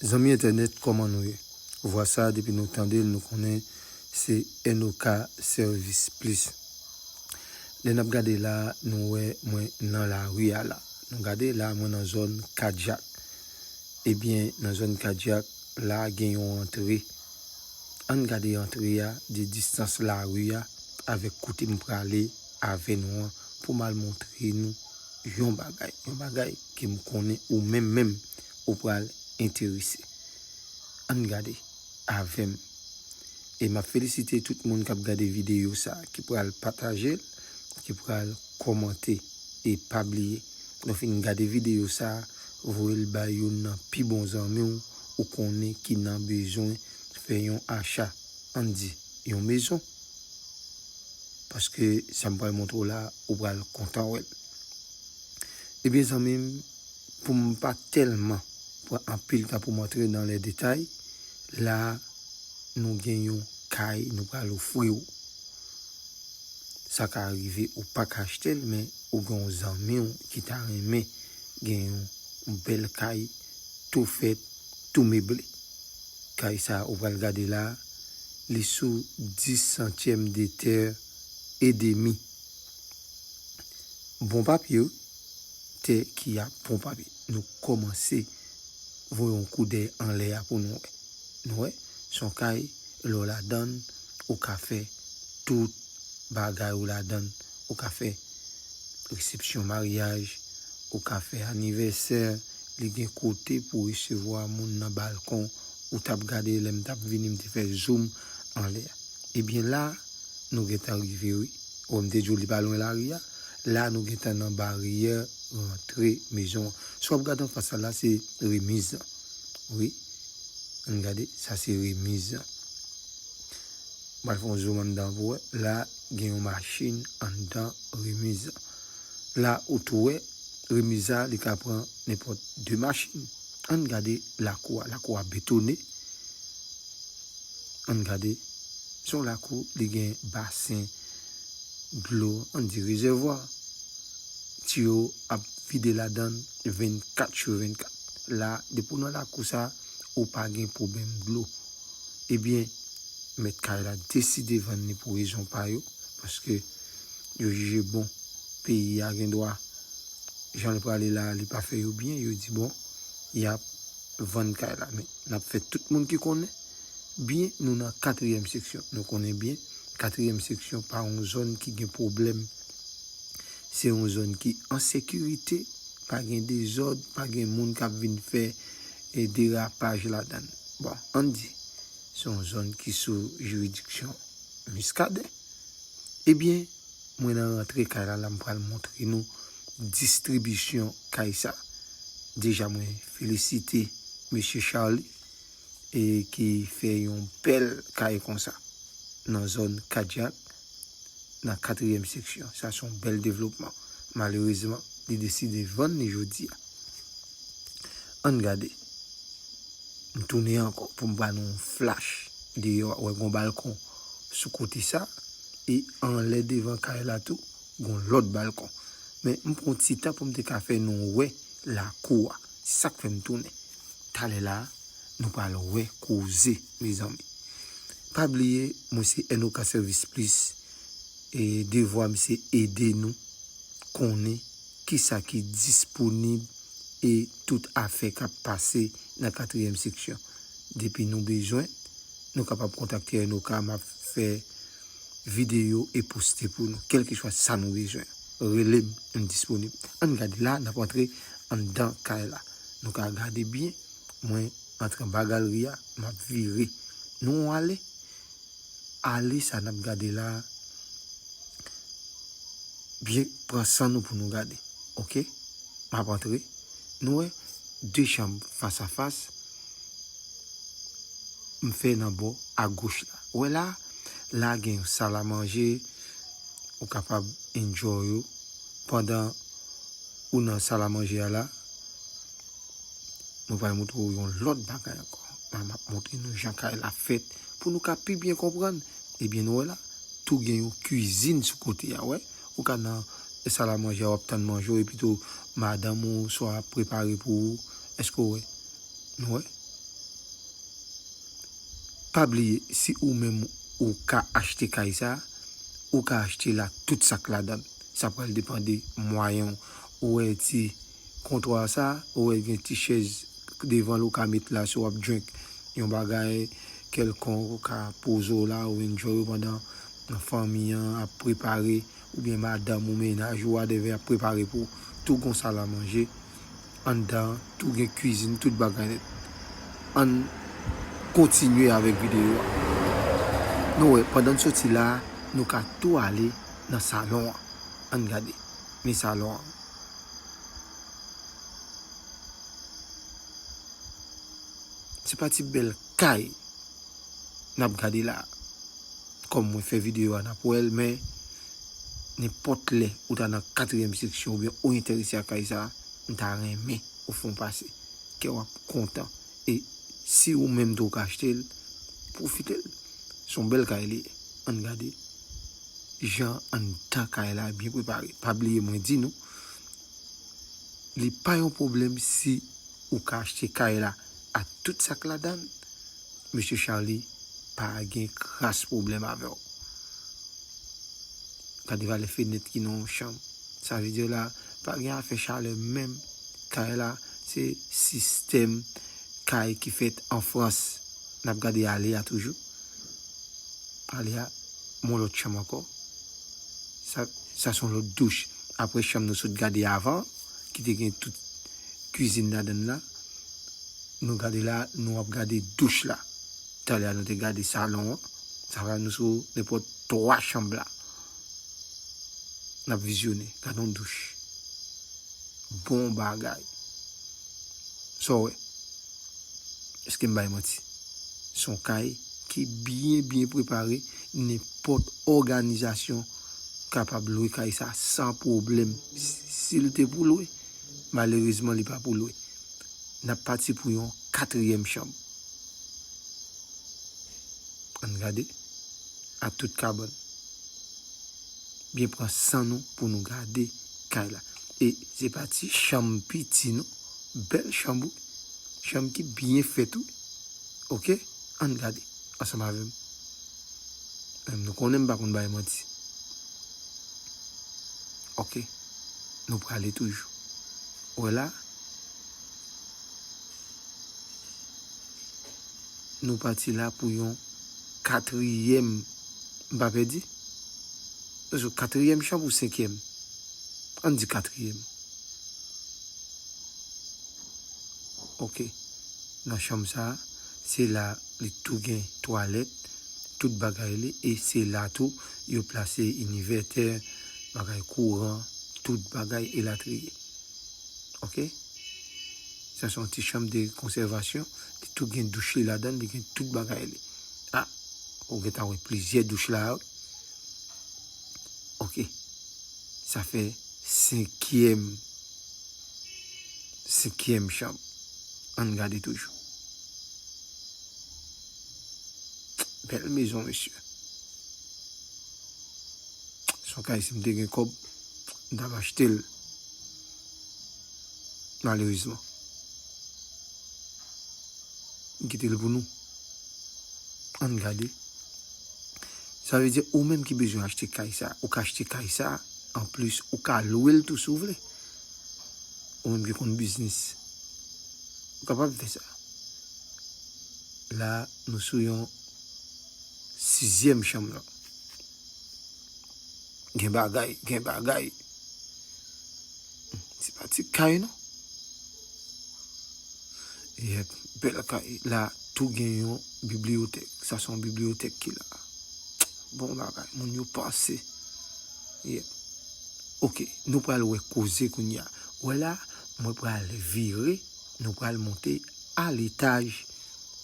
Zanmi entènèt kòman nou ye? Vwa sa depi nou tandel nou konnen se NOK sèvis plis. Lè nap gade la nou wè mwen nan lari a la. Nou gade la mwen nan zòn kadyak. Ebyen nan zòn kadyak la gen yon antre. Ann gade antre a de distans lari a avèk kote m prale. Ave nou an pou mal montre nou yon bagay yon bagay ke m konnen ou menm menm ou pral enterese ann gade avèm e map felisite tout moun kap gade videyo sa ki pral patajel ki pral kòmante e pa bliye lèw fin gade videyo sa voyel bay youn nan pi bon zanmiw ou konnen ki nan bezwen fè yon acha ann di yon mezon. Paske sa m pral montre w la ou pral kontan wè l. Ebyen zanmi m pou m pa tèlman pran anpil tan pou m antre nan lè detay, la nou gen yon kay nou pral ofri w. Sa ka rive ou pa ka achte l men ou gen yon zanmi w ki ta renmen gen yon bèl kay tou fèt, tou meble. Kay sa ou pral gade la, li sou 10 santyèm de tè e demi. Bon papye wi, tè ki a bon papye. Nou kòmanse voye yon koudèy anlè a pou nou wè. Nou wè, s on kay lè w ladan l, ou ka fè tout bagay ou ladan l. Ou ka fè resepsyon maryaj, ou ka fè anivèsè, li gen kote pou resevwa moun nan balkon, ou tap gade lèm tap vini m te fè zoom anlè a. Ebyen la nou gentan rive wi, wè m te diw li pa lwen lari a, la nou gentan nan baryè rantre mezon an. Sa wap gade anfas la la se remiz lan wi, ann gade sa se remiz lan. Mwen fon zoom anndan pou wè. La gen yon machin anndan remise an. La ou tou wè remise a li ka pran nenpòt 2 machin. Ann gade lakou a. Lakou a betone. Ann gade. Se yon lakou li gen basen dlo ann di rezèvwa. Tiyo ap vide ladan l 24 sur 24. La depi w nan lakou sa ou pa gen pwoblèm dlo. Ebyen, mèt kay la deside vann li pou rezon pa yo, paske yo jije bon peyi a gen dwa jan li prale la a li pa fè yo byen, yo di bon y ap vann kay la. Men, n ap fè tout moun ki konnen byen nou nan katriyèm seksyon. Nou konnen byen katriyèm seksyon pa yon zòn ki gen pwoblèm. Se yon zòn ki an sekirite, pa gen dezòd, pa gen moun k ap vin fè derapaj ladan l. Bon, ann di, se yon zòn ki sou jiridiksyon Miskaden. Ebyen, mwen nan rantre kay la la m pral montre nou distribisyon kay sa. Deja mwen felisite Mesye Charly e ki fè yon bèl kay konsa nan zòn kadyak. nan katriyèm seksyon. Sa se yon bèl devlopman. Malerezman, li deside vann li jodi a. Ann gade. M tounen ankò pou m ba nou yon flach deyò a. Ou wè gen yon balkon sou kote sa a. E anlè devan kay la tou, gen yon lòt balkon. Men, m pran yon ti tan pou m te ka fè nou wè lakou a. Se sa k fè m tounen. Talè la a. Nou pral wè koze mezanmi. Pa bliye mwen se Enoka Service Plus e devwa m se ede nou konnen kisa ki disponib e tout afè k ap pase nan katriyèm seksyon. Depi nou bezwen, nou kapab kontakte Enoka m ap fè videyo e poste pou nou. Kèlkeswa sa nou bezwen, rele m, m disponib. Ann gade la, n ap antre anndan kay la. Nou ka gade byen. Mwen antre anba galri a map vire nou on ale ale sa nap gade la byen pran san nou pou nou gade ok map antre nou wè 2 chanm fas a fas m fè nan bò a goch la ou wè la la gen yon sal a manje ou kapab enjoy ou pandan ou nan sal a manje a la. Nou pral moutre ou yon lòt bagay ankò. La map moutre nou jan kay la fèt pou nou ka pi byen konprann. Ebyen nou wè la, tou gen yon kizin sou kote a wè. Ou ka nan sal a manje a wap tann manje w epitou madanm ou swa ap prepare pou ou. Eske w wè? Nou wè? Pa bliye si ou menm ou ka achte kay sa, ou ka achte la tout sak ladan. Sa pral depan de mwayen w. Ou wè ti. Kontwa sa ou wè gen ti chèz devan l ou ka met la si w ap drink yon bagay kèlkonk ou ka poze w la ou enjoy ou pandan fanmi an ap prepare oubyen madanm ou mennaj ou wadèvè ap prepare pou tou gon sal a manje anndan an tou gen kwizin tout bagay nèt ann kontinye avèk videyo a nou wè pandan n soti la nou ka tou ale nan salon an ann gade men salon an. Se pa ti bèl kay n ap gade la a. Kòm mwen fè videyo a, n ap wè l men, nenpòt lè ou ta nan katriyèm seksyon oubyen ou enterese ak kay sa a, m ta renmen ou fè yon pase. Kè w ap kontan. E si ou menm tou ou ka achte l, pwofite l. Se yon bèl kay li ye. Ann gade. Jan anndan kay la byen prepare. Pa bliye mwen di nou li pa yon pwoblèm si ou ka achte kay la ak tout sa k ladan l, mesye Charly pa gen kras pwoblèm avè w. Gade valè fenèt ki nan yon chanm. Sa vle di la pa gen afè chalè menm. Kay la se sistèm kay ki fèt an Frans n ap gade ale a toujou. Ale a mon lòt chanm ankò. Sa sa son lòt douch. Aprè chanm nou sot gade a avan ki te gen tout kizin ladann la. Nou gade la nou ap gade douch la. Talè a nou te gade salon an. Sa va nou sou nenpòt 3 chanm la. Nap vizyone. Gadon douch. Bon bagay. Sa w wè? Eske m bay manti? Se yon kay ki byen byen prepare, nenpòt òganizasyon kapab lwe kay sa san pwoblèm. Si l te pou lwe, malerezman li pa pou lwe. N ap pati pou yon katriyèm chanm. An n gade a tout kabann. Byen pran san nou pou nou gade kay la. E se pa ti chanm piti non. Bèl chanm wi, chanm ki byen fèt wi ok ann gade ansanm avèm menm nou konnen m pa konn bay manti ok nou prale toujou ou wè la nou pati la pou yon katriyèm m pa pèdi se sou katriyèm chanm ou senkyèm ann di katriyèm. Ok nan chanm sa se la li tou gen twalèt tout bagay li e se la tou yo plase inivètè bagay kouran tout bagay elatriye ok sa son ti chanm de konsèvasyon li tou gen douch li ladann li gen tout bagay li a ou gentan wè plizyè douch la wi. Ok sa fè senkyèm senkyèm chanm ann gade toujou bèl mezon mesye son kay si m te gen kòb m ta va achte l malerizman m kite l pou nou. Ann gade. Sa vle di ou menm ki bezwen achte kay sa, ou ka achte kay sa, an plis ou ka lwe l tou si w vle. Ou menm ki konn biznis, ou kapab fè sa. La nou sou yon sizyèm chanm lan. Gen bagay, gen bagay. Se pa ti kay non. Yep, bel kay. La, tou gen yon bibliotek. Sa son bibliotek ki la. Bon bagay, moun yo panse. Yep. Ok, nou pral we koze koun ya. We la, mwen pral vire, nou pral monte al etaj.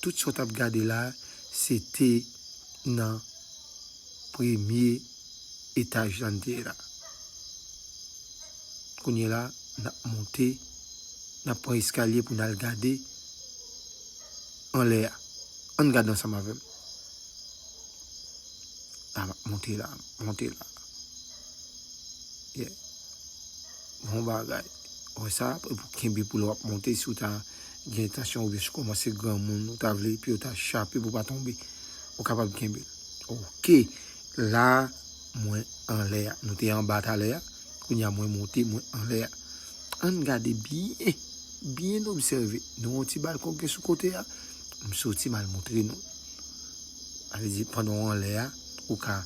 Tout sot ap gade la, se te nan. premye etaj la n te ye la. Kounye la, n ap monte, n ap pran eskalye pou n al gade anlè a. Ann gade ansanm avè m. N ap monte la, monte la. Bon bagay. Wè sa, e pou kenbe pou lè w ap monte si w ta gen entansyon oubyen si w koumanse granmoun, ou ta vle pye w ta chape pou w pa tonbe, ou kapab kenbe l. Ok la mwen anlè a. Nou te anba talè a. Kounya mwen monte mwen anlè a. Ann gade byen. Byen obsève. Nou yon ti balkon ki gen sou kote a. M soti mal montre nou. A ve di pandan w anlè a. Ou ka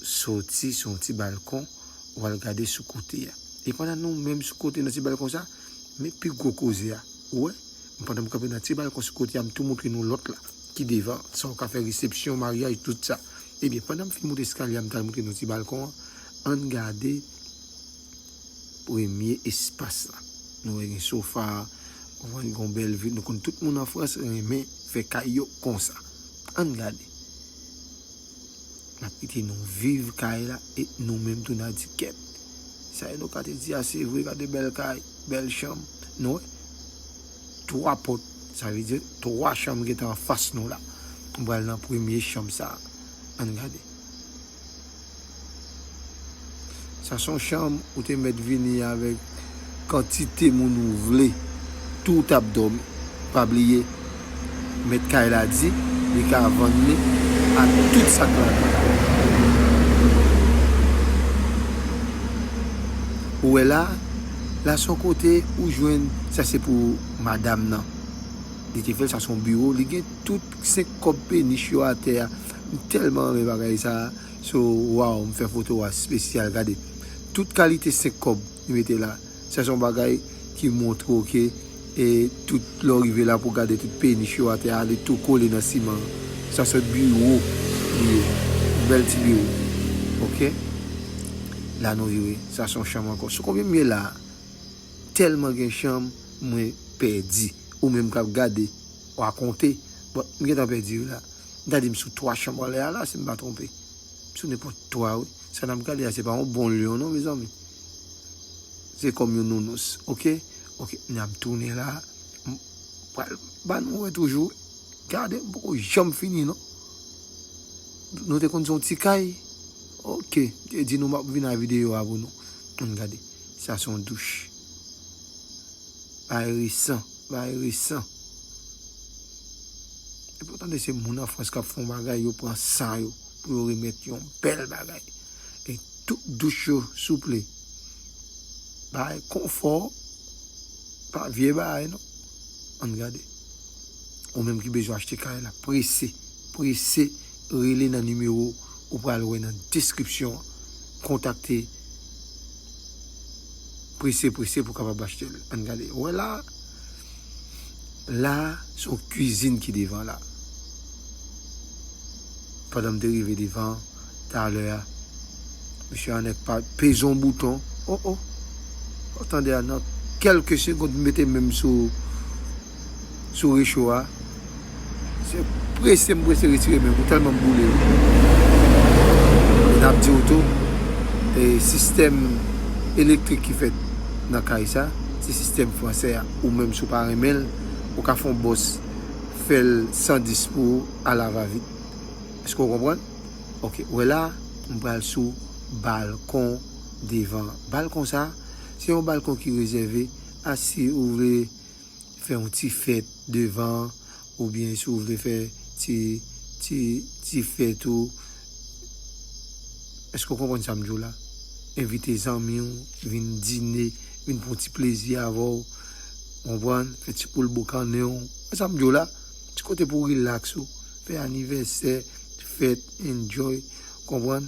soti sou yon ti balkon. Ou al gade sou kote a. E pandan nou menm sou kote nan ti balkon sa. Men pi gwo koze a. Ou wè. Pandan m kanpe nan ti balkon sou kote a. M tou montre nou lòt la. ki devan, sa ou ka fè resepsyon, maryaj, tout sa. Ebyen, pandan m fin moute eskalye a, m ta montre nou ti balkon an, an n gade premye espas la. Nou wè gen sofa, wè gen yon bèl vi, nou konn tout moun an Frans renmen fè kay yo konsa. An n gade. N ap kite nou viv kay la e nou menm tou n a di kèt. Sa Enoka te di a se vre, gade bèl kay, bèl chanm. Nou wè? 3 pòt, sa vle di 3 chanm gen tan anfas nou la. M pral nan premye chanm sa a. An n gade. Sa se yon chanm ou te mèt vini avèk kantite moun ou vle. Tou ou t ap dòmi. Pa bliye, mèt kay la di li ka vann li ak tout sa k ladan l. Ou wè la a, La son kote ou jwenn. Sa se pou madam nan. Li te fèl sa son biro li gen tout 5 kòb penich yo atè a m tèlman renmen bagay sa so waw m fè foto a spesyal gade tout kalite 5 kòb li mete la sa son bagay ki montre w ke E tout lè w rive la pou w gade tout penich yo atè a li tou kole nan siman an. Sa se biwo li ye. Yon bèl ti biwo. Ok. La nou rive. Sa se yon chanm ankò. Sou konbyen m ye la a? Tèlman gen chanm mwen pèdi. Ou menm k ap gade wa konte. Bon, m gentan pèdi wi la. M ta di m sou 3 chanm anlè a la si m pa twonpe. Sou nenpòt twa wi. Sa nap gade a se pa yon bon lyon non mezanmi. Se kòm yon nounous. Ok. Ok. Nap tounen la. M pral ba nou wè toujou. Gade m poko janm fini non. Nou te konn se yon ti kay. Ok. M te di nou map vin a videyo a pou nou. Ann gade. Sa se yon douch. Bagay resan. Bagay resan. Depi ou tande se moun an frans kap fon bagay yo pran san yo pou yo remet yon bel bagay e tout douch yo souple bay konfò pa vye bagay non ann gade ou menm ki bezwen achte kay la prese prese rele nan nimewo ou pral wè nan deskripsyon an kontakte prese prese pou kapab achte l ann gade wè la. La a, se yon kizin ki devan la. Pandan m te rive devan an, talè a, Mesye Anèt pa peze yon bouton. O o! Ou tande a, nan kèlke segond m mete men m sou recho a. Se prese m prese retire menm ou telman boule wi. E nap diw tou e sistèm elektrik ki fèt nan kay sa se sistèm fransè a ou menm si w pa renmen l ou ka fè yon bòs fèl 110 pou ou a la va vit èske w konprann ok ou wè la m pral sou balkon devan balkon sa se yon balkon ki rezève a si ou vle. fè yon ti fèt devan oubyen si w vle fè ti ti ti fèt ou èske w konprann sa m di w la envite zanmi w vin dine vin pran yon ti plezi avè w konprann fè ti poul boukannen w konprann sa m di w la ti kote pou w rilaks ou fè anivèsè fèt enjoy konprann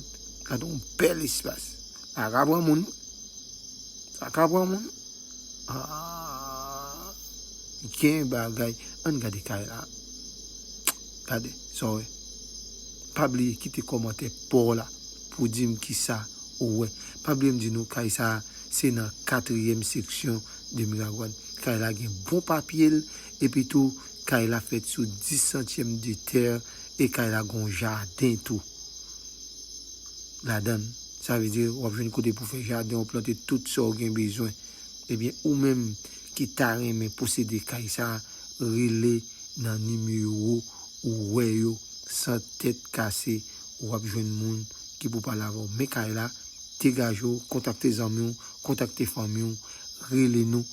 gade yon bèl espas sa ka pran moun sa ka pran moun. Aah gen bagay ann gade kay la gade sa w wè pa bliye kite kòmantè pa w la pou w di m kisa ou wè pa bliye m di nou kay sa se nan katriyèm seksyon de miragwàn kay la gen bon papye l epi tou kay la fèt sou 10 santyèm de tè e kay la gon jaden tou ladan l. Sa vle di wap jwenn kote pou fè jaden w plante tout sa w gen bezwen. Ebyen ou menm ki ta renmen posede kay sa rele nan nimewo ou wè yo san tèt kase wap jwenn moun ki pou pale avè w men kay la degaje w kontakte zanmi w kontakte fanmi w rele nou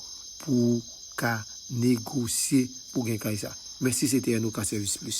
pou w ka negosye pou gen kay sa mèsi se te NOK Service Plus.